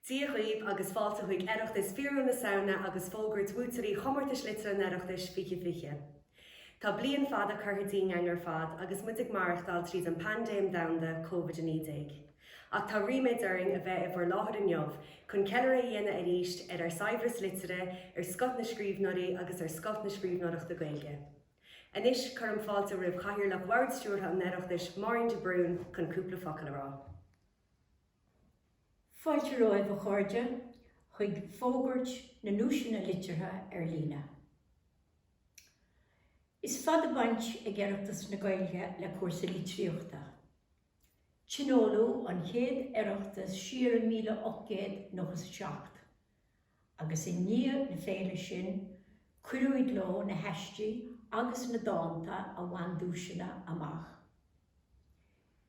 Dia dhaoibh agus fáilte chuig Oireachtas Fíorúil na Samhna agus fógairt bhuaiteoirí Chomórtais Liteartha an Oireachtais 2020. Tá bliain fada curtha dínn againn ar fad agus muid ag maireachtáil tríd an bpaindéim domhanda Covid-19. Ach tá ríméad orainn a bheith i bhur láthair inniu chun ceiliúradh a dhéanamh arís ar ár saibhreas liteartha, ar scoth na scríbhneoirí agus ar scoth na scríbhneoireachta Gaeilge. Anois, cuirim fáilte roimh Chathaoirleach Bhord Stiúrtha an Oireachtais, Máirín de Brún, chun cúpla focal a rá. Fáilte romhaibh a chairde chuig Fógairt na nDuaiseanna Liteartha ar líne. Is fada baint ag Oireachtas na Gaeilge le cúrsaí litríochta. Tionóladh an chéad Oireachtas siar i 1897 agus i ndiaidh na féile sin cuireadh i gcló na haistí agus na dánta a bhain duaiseanna amach.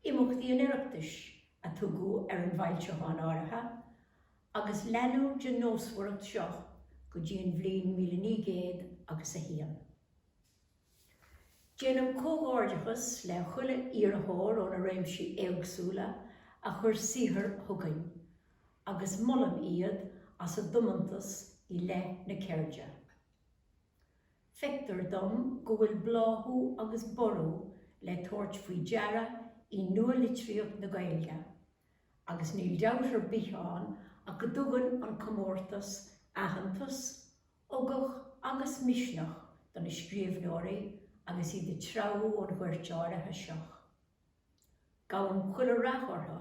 Imeachtaí an Oireachtais a tugadh ar an bhfoilseachán áirithe agus leanadh den nósmhaireacht seo go dtí an bhliain 1901. Déanaim comhghairdeachas le chuile iarrthóir ó na réimsí éagsúla a chuir saothar chugainn agus molaim iad as a dtiomantas i leith na ceirde. Feictear dom go bhfuil bláthú agus borradh le tabhairt faoi deara i nua-litríocht na Gaeilge agus níl dabht ar bith ann ach go dtugann an comórtas aitheantas Ugach agus misneach do na scríbhneoirí agus iad ag treabhadh an ghoirt áirithe seo. Guím chuile rath orthu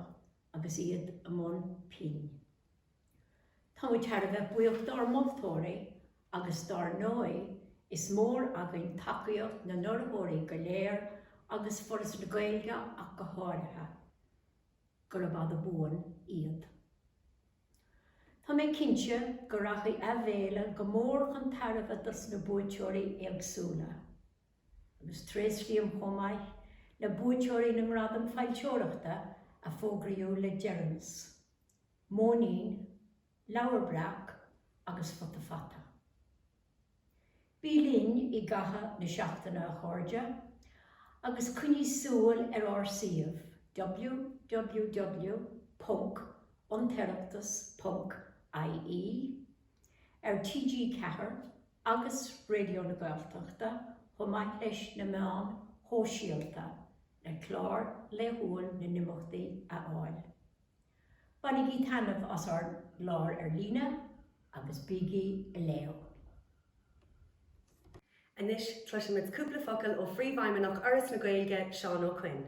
agus iad i mbun pinn. Tá muid thar a bheith buíoch dár moltóirí agus dar ndóigh is mór againn tacaíocht na n-urraitheoirí go léir agus Foras na Gaeilge ach go háirithe. Gurab fada buan iad. Tá mé cinnte go rachaidh an fhéile go mór chun tairbhe dos na buaiteoirí éagsúla, agus tréaslaím chomh maith le buaiteoirí na nGradam Foilsitheoireachta a fógraíodh le deireanas, Móinín, Leabhar Breac agus Futa Fata. Bí linn i gcaitheamh na seachtaine a chairde agus coinnígí súil ar ár suíomh www.antoireachtas.ie, ar TG4 agus Raidió na Gaeltachta chomh maith leis na meáin shóisialta le clár laethúil na n-imeachtaí a fháil. Bainigí taitneamh as ár gclár ar líne agus bígí leo! Anois cloisfimid cúpla focal ó Phríomhfheidhmeannach Fhoras na Gaeilge, Seán Ó Coinn.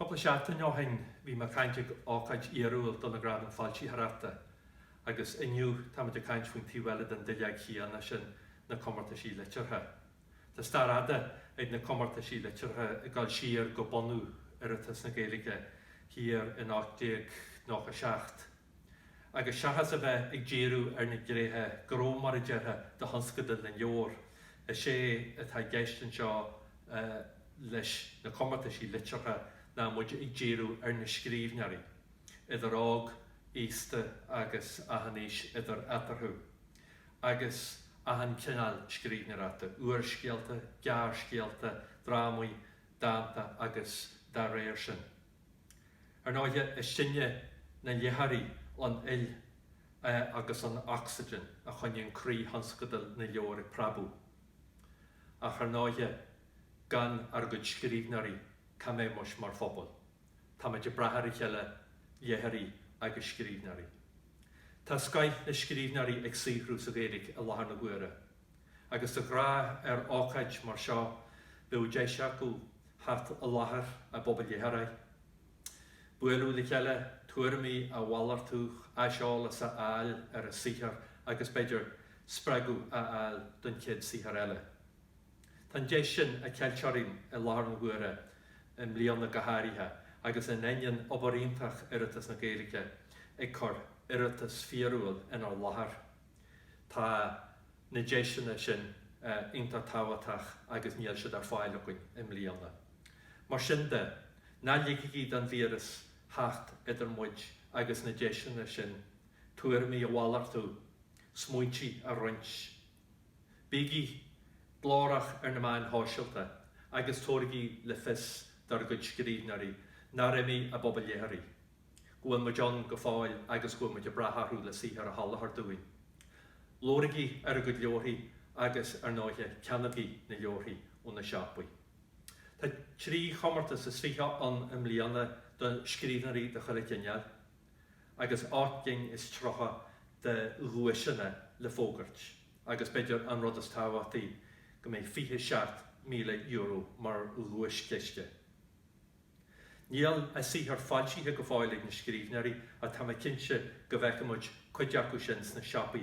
Cúpla seachtain ó shin bhí mé ag caint ag ócáid fhíorúil do na Gradaim Foilsitheoireachta agus inniu táimid ag caint faoin taobh eile den duilleog chéanna sin, na comórtais liteartha. Tá stair fhada ag na comórtais liteartha ag dul siar go bunú Oireachtas na Gaeilge thiar in 1897, agus seachas a bheith ag díriú ar na gréithe gró mar a déarfá de thionscadal na leabhar, is é atá i gceist anseo leis na comórtais liteartha ná muid ag díriú ar na scríbhneoirí, idir óg, aosta agus achan aois idir eatarthu, agus achan cineál scríbhneoireachta, úrscéalta, gearrscéalta, drámaí, dánta agus dá réir sin. Ar ndóighe, is sinne, na léitheoirí, an fhuil agus an ocsaigin a choinníonn croí thionscadal na leabhar ag preabadh. Ach, ar ndóighe, gan ár gcuid scríbhneoirí, cá mbeadh muis mar phobal? Táimid ag brath ar a chéile, léitheoirí agus scríbhneoirí. Tá scoth na scríbhneoirí ag saothrú sa Ghaeilge i láthair na huaire. Agus de ghnáth ar ócáid mar seo bheadh deis acu theacht i láthair a bpobal léitheoirí, bualadh le chéile, tuairimí a mhalartú, aiseolas a fháil ar a saothar agus b'fhéidir spreagadh a fháil don chéad saothar eile. Tá an deis sin ceilte orainn i láthair na huaire, i mbliana go háirithe, agus in ainneoin obair iontach Oireachtas na Gaeilge ag cur Oireachtas fíorúil inár láthair, tá na deiseanna sin iontach tábhachtach agus níl siad ar fáil againn i mbliana. Mar sin de, ná ligigí don víreas theacht idir muid agus na deiseanna sin, tuairimí a mhalartú, smaointí a roinnt, Bígí glórach ar na meáin shóisialta agus tabhairigí le fios dár gcuid scríbhneoirí nár imigh a bpobal léitheoirí, go bhfuil muid ann go fóill agus go bhfuil muid ag brath orthu le saothar a sholáthar dúinn. Labhraígí ar a gcuid leabharthaí agus, ar ndóighe, ceannaígí na leabharthaí ó na siopaí. Tá trí chomórtas is fiche ann i mbliana do scríbhneoirí de chuile chineál. agus ocht gcinn is tríocha de dhuaiseanna le fógairt agus, b'fhéidir an rud is tábhachtaí, go mbeidh €27,000 mar dhuaischiste. Níl a saothar foilsithe go fóill ag na scríbhneoirí ach tá mé cinnte go bhfeicfidh muid cuid acu sin sna siopaí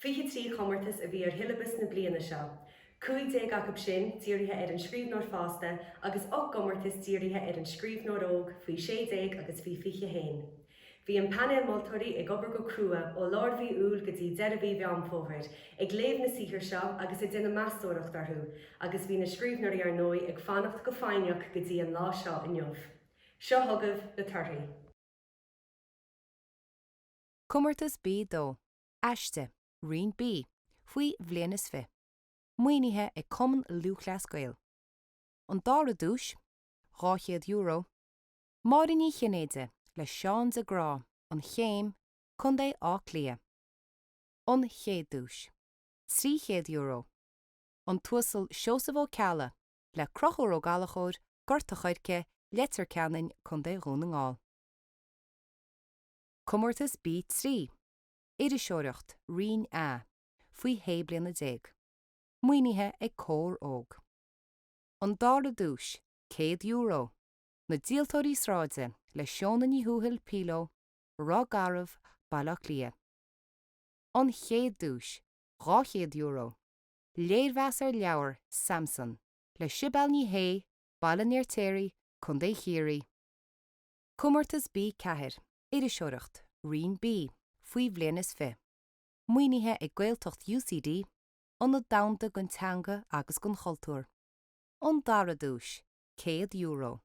Fiche trí comórtas a bhí ar shiollabas na bliana seo, cúig déag acu sin dírithe ar an scríbhneoir fásta agus ocht gcomórtas dírithe ar an scríbhneoir óg faoi sé déag agus faoi fiche haon. Bhí an painéal moltóirí ag obair go crua ó lár mhí Iúil go dtí deireadh mhí Mheán Fómhair ag léamh na saothar seo agus ag déanamh meastóireacht orthu agus bhí na scríbhneoirí ar ndóigh ag fanacht go foighneach go dtí an lá seo inniu. Seo chugaibh na torthaí. Comórtas B2, Aiste, Roinn B, faoi bhliain is fiche, maoinithe ag Cumann Lúthchleas Gael. An dara duais, €200, Máire Ní Chinnéide le Seán de Grá, An Chéim, Co. Átha Cliath. An chéad duais, €300, An tUasal Seosamh Ó Ceallaigh le Crochúr Ó Gallachóir, Gort a' Choirce, Leitir Ceanainn, Co. Dhún na nGall. Comórtas B3, Iriseoireacht, Roinn A, faoi shé bliana déag. Maoinithe ag Comhar Óg. An Dara Duais, €100, Na Díoltóirí Sráide le Seona Ní Thuathail, Píló, Ráth Gearr, Baile Átha Cliath. An Chéad Duais, €200, Léirmheas ar Leabhar Samson le Sibéal Ní Shé, Baile an Fheirtéaraigh, Co. Chiarraí. Comórtas B Ceathair, Iriseoireacht, Roinn B, faoi bhliain is fiche. Maoinithe ag Gaeltacht UCD, Ionad Domhanda don Teanga agus don Chultúr. An dara duais, €100.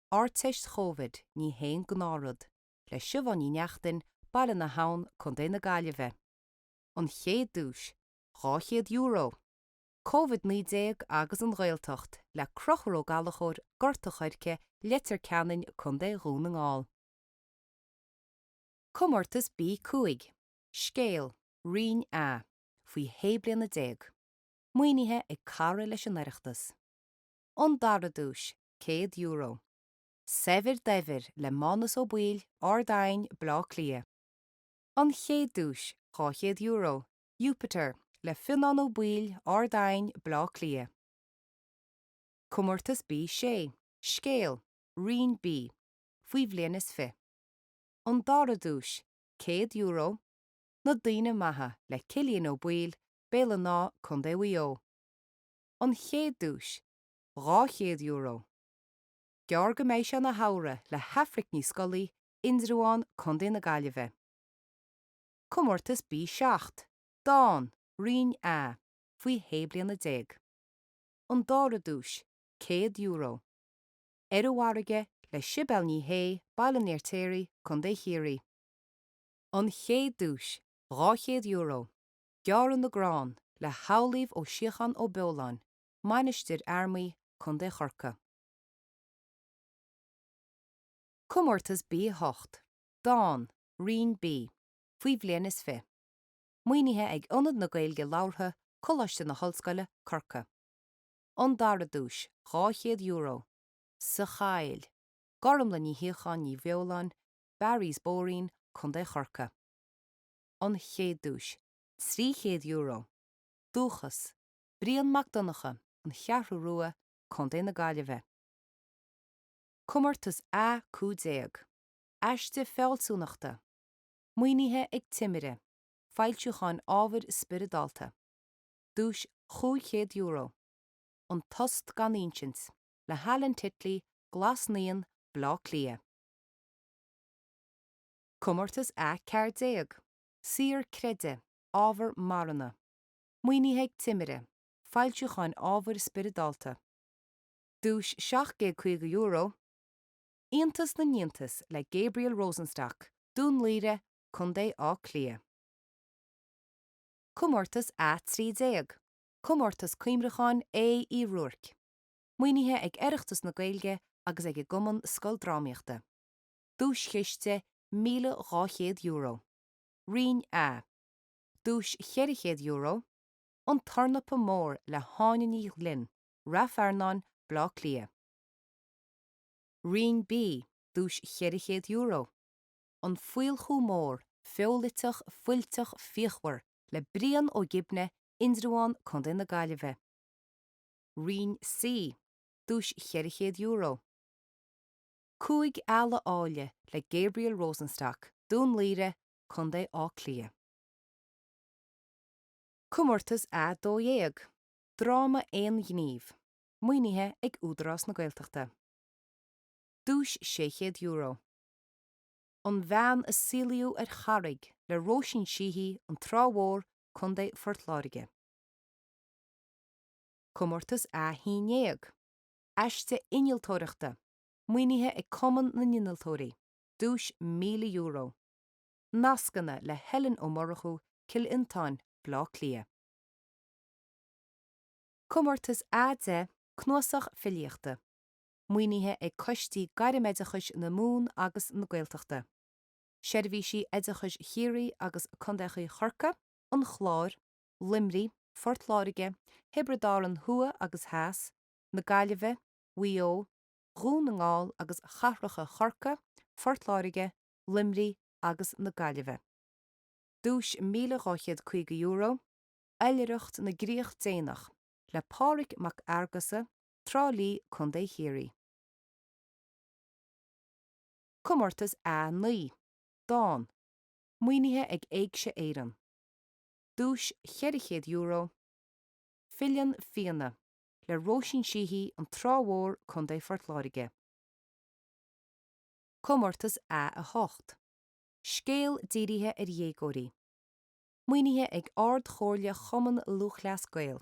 Ardteist Chovid, ní haon gnáthrud, le Siubhán Ní Neachtain, Baile na hAbhann, Co. na Gaillimhe. An chéad duais, €200. Covid 19 agus an Ghaeltacht le Crochúr Ó Gallachóir, Gort a' Choirce, Leitir Ceanainn, Co Dhún na nGall. Comórtas B 5 Scéal, Roinn A, faoi shé bliana déag. Maoinithe ag cara leis an Oireachtas. An dara duais, €100. Saibhir Daibhir le Mánus Ó Baoill, Ard Aidhin, Bleá Cliath. An chéad duais, €200. Jupiter le Fionán Ó Baoill, Ard Aidhin, Bleá Cliath. Comórtas B6, Scéal, Roinn B, faoi bhliain is fiche. An dara duais, €100, Na Daoine Maithe le Cillian Ó Baoill, Béal an Átha, Co. Mhaigh Eo. An chéad duais, €200. Gearr go mbeidh sé ina shamhradh le hAifric Ní Scolaí, Indreabhán, Co. na Gaillimhe. Comórtas B 7 Dán, Roinn A, faoi shé bliana déag. An dara duais, €100. Ar an bhfarraige le Sibéal Ní Shé, Baile an Fheirtéaraigh, Co. Chiarraí. An chéad duais, €200, Gearradh na gCrann le hAmhlaoibh Ó Síocháin Ó Beoláin, Mainistir Fhear Maí, Co. Chorcaí. Comórtas B 8 Dán, Roinn B, faoi bhliain is fiche Maoinithe ag Ionad na Gaeilge Labhartha, Coláiste na hOllscoile, Corcaigh. An dara duais, €200. Sa Choill, Gormlaith Ní Shíocháin Ní Bheoláin, Barry's Boreen, Co. Chorcaí. An chéad duais, €300. Dúchas, Brian Mac Donnacha, An Cheathrú Rua, Co. na Gaillimhe. Comórtas A15. aiste fealsúnachta, maoinithe ag Timire Foilsiúcháin Ábhair Spioradálta, duais €500, An Tost gan Insint le hAlan Titley, Glas Naíon, Bleá Cliath. Comórtas A14 Saor Creideamh, Ábhar Marana, maoinithe ag Timire Foilsiúcháin Ábhair Spioradálta, duais €750, Iontas na n-iontas le Gabriel Rosenstock, Dún Laoghaire, Co Áth Cliath. Comórtas A13, Comórtas Cuimhneacháin Aodh Uí Ruairc. Maoinithe ag Oireachtas na Gaeilge agus ag an gCumann Scoildrámaíochta. Duaischiste €1,200. Roinn A, duais €400, An Tornapa Mór le hÁine Ní Ghlinn, Ráth Fearnáin, Bleá Cliath. Roinn B, duais €400, An Faolchú Mór, feoiliteach fuilteach fíochmhar le Brian Ó Gibne, Indreabhán, Co na Gaillimhe. Roinn C, duais €400, Cúig Eala Áille le Gabriel Rosenstock, Dún Laoghaire, Co Áth Cliath. Comórtas A Dó Dhéag, dráma aonghnímh. Maoinithe ag Údarás na Gaeltachta. Duais €600. An Bhean a Saolaíodh ar Charraig le Róisín Sheehy, An Trá Mhór, Co. Phort Láirge. Comórtas A11, Aiste Innealtóireachta, maoinithe ag Cumann na nInnealtóirí. Duais €1,000. Nascanna le Helen Ó Murchú, Cill Fhionntáin, Bleá Cliath. Comórtas A10, Cnuasach Filíochta. Maoinithe ag Coistí Gairm-Oideachais na Mumhan agus na Gaeltachta. Seirbhísí Oideachais Chiarraí agus Contaechaí Chorcaí, an Chláir, Luimnigh, Phort Láirge, Thiobraid Árann Thuaidh agus Theas, na Gaillimhe, Mhaigh Eo, Dhún na nGall agus Chathracha Chorcaí, Phort Láirge, Luimnigh agus na Gaillimhe. Duais €1,250. Oilithreacht na gCríoch Déanach le Pádraig Mac Fhearghusa, Trá Lí, Co. Chiarraí. Comórtas A9, Dán, maoinithe ag Éigse Éireann. Duais €400, Filleann Fianna, le Róisín Sheehy, An Trá Mhór, Co. Phort Láirge. Comórtas A8, Scéal dírithe ar dhéagóirí. maoinithe ag Ard-Chomhairle Chumann Lúthchleas Gael.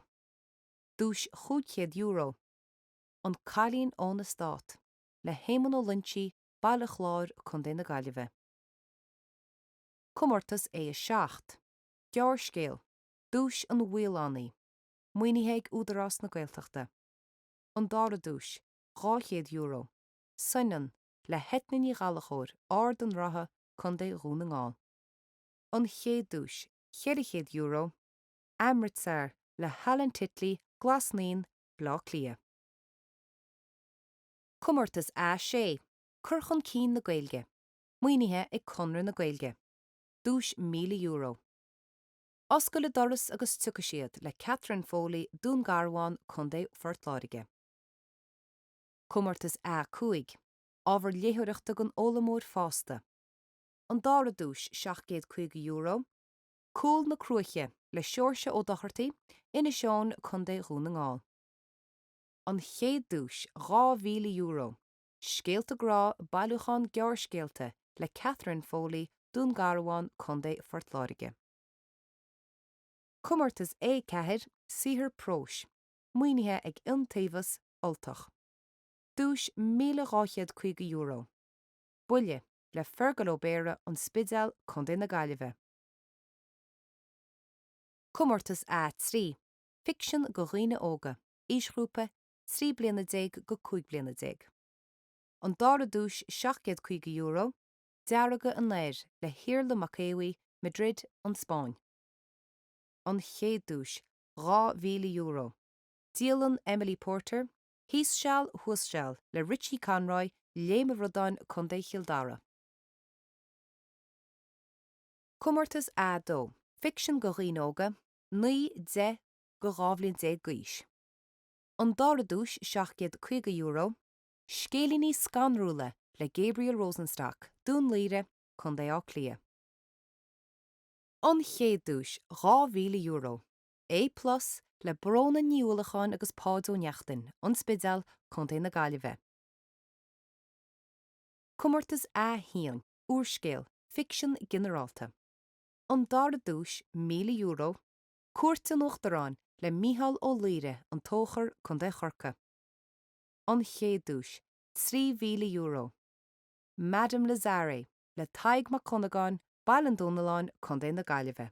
Duais €500, An Cailín ón Eastát, le hÉamonn Ó Loingsigh, Baile Chláir, Co na Gaillimhe. Comórtas A7, Gearrscéal, Duais an Mhaolánaigh, maoinithe ag Údarás na Gaeltachta. An Dara Duais, €200, Soineann, le hEithne Ní Ghallchobhair, Ard an Rátha, Co Dhún na nGall. an chéad duais €400, Amritsar le hAlan Titley, Glas Naíon, Bleá Cliath. Comórtas A6, Cur chun cinn na Gaeilge, maoinithe ag Conradh na Gaeilge, duais €1,000. Oscail an doras agus tiocfaidh siad le Catherine Foley, Dún Garbhán, Co. Phort Láirge. Comórtas A5, Ábhar léitheoireachta don fhoghlaimeoir fásta. an dara duais €750, Cúl na Cruaiche le Seoirse Ó Dochartaigh, Inis Eoghain, Co. Dhún na nGall, an chéad duais €2,000, Scéalta Grá, Bailiúchán Gearrscéalta le Catherine Foley, Dún Garbhán, Co. Phort Láirge. Comórtas A4, Saothar próis, maoinithe ag Iontaobhas Ultach, duais €1,250, Buille, le Feargal Ó Béarra, An Spidéal, Co na Gaillimhe. Comórtas A3, Ficsean do dhaoine óga, aoisghrúpa 13 bliana go 15 bliana. An dara duais €750, Deargadh an Aeir le hIarla Mac Aodha Bhuí, Madrid, An Spáinn. An chéad duais, €2,000, Dialann Emily Porter, Thuas seal thíos seal le Richie Conroy, Léim an Bhradáin, Co. Chill Dara. Comórtas A2. Ficsean do dhaoine óga, 9, 10, go 12 bhliain d'aois. An dara duais €750. Scéilíní scanrúla le Gabriel Rosenstock, Dún Laoghaire, Co. Átha Cliath. An chéad duais €2,000. A plus le Brona Ní Uallacháin agus Páid Ó Neachtain, An Spidéal, Co na Gaillimhe. Comórtas A1, Úrscéal, Ficsean Ginearálta. An dara duais, €1,000, Cuairt an Uachtaráin le Mícheál Ó Laoire, An Tóchar, Co Chorcaí. An chéad duais, €3,000, Madame Lazare le Tadhg Mac Dhonnagáin, Baile an Domhnalláin, Co na Gaillimhe.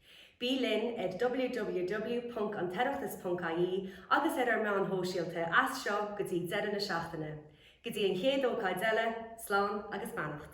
Bí linn ar www.antoireachtas.ie agus ar ár meáin shóisialta as seo go dtí deireadh na seachtaine. Go dtí an chéad ócáid eile, slán agus beannacht.